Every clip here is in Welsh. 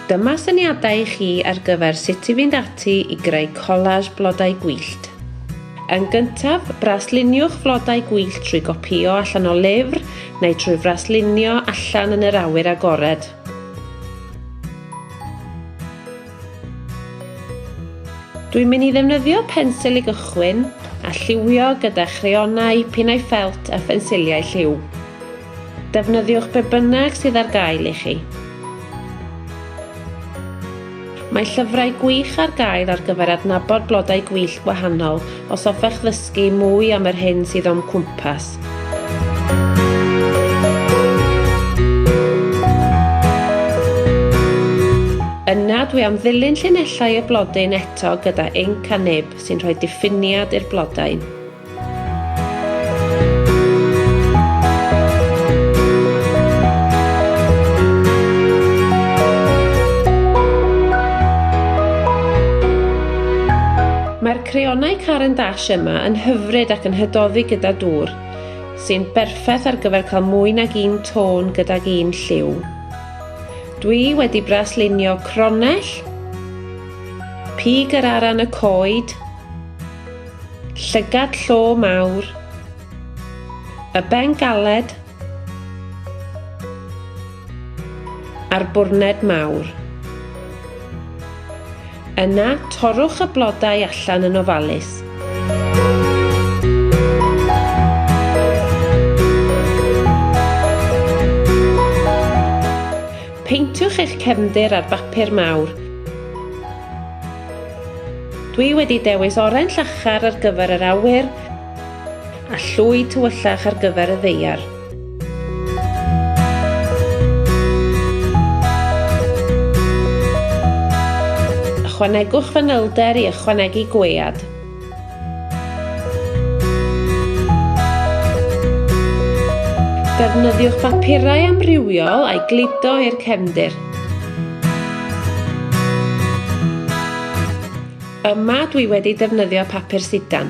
Dyma syniadau i chi ar gyfer sut i fynd ati i greu collage blodau gwyllt. Yn gyntaf, brasluniwch flodau gwyllt trwy gopïo allan o lyfr neu trwy fraslunio allan yn yr awyr agored. Dwi'n mynd i ddefnyddio pensil i gychwyn a lliwio gyda chreonau, pinnau ffelt a phensiliau lliw. Defnyddiwch be bynnag sydd ar gael i chi. Mae llyfrau gwych ar gael ar gyfer adnabod blodau gwyllt gwahanol Os hoffech ddysgu mwy am yr hyn sydd o'm cwmpas, Yna dwi am ddilyn llinellau y blodyn eto gyda inc a nib sy'n rhoi diffiniad i'r blodau. Creonau Caran d'Ash yma yn hyfryd ac yn hydoddi gyda dŵr, sy'n berffaith ar gyfer cael mwy nag un tôn gydag un lliw. Dwi wedi braslunio cronell, pig yr aran y coed, llygad llo mawr, y ben galed, a'r bwrned mawr. Yna, torrwch y blodau allan yn ofalus. Peintiwch eich cefndir ar bapur mawr. Dwi wedi dewis oren llachar ar gyfer yr awyr a llwy tywyllach ar gyfer y ddeiar. Ychwanegwch fanylder i ychwanegu gwead. Defnyddiwch bapurau amrywiol a'i gludo i'r cefndir. Yma dwi wedi defnyddio papur sidan.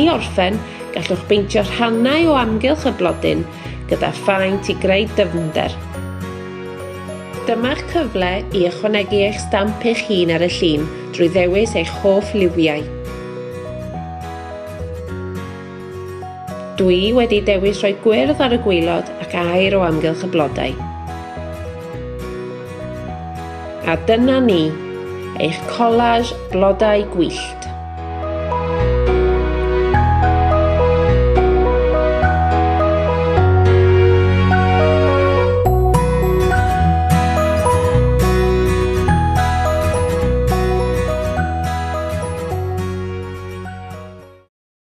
I orffen, gallwch beintio rhannau o amgylch y blodyn gyda phaent i greu dyfnder. Dyma'ch cyfle i ychwanegu eich stamp eich hun ar y llun drwy ddewis eich hoff liwiau. Dw i wedi dewis rhoi gwyrdd ar y gwaelod ac aer o amgylch y blodau. A dyna ni, eich collage blodau gwyllt.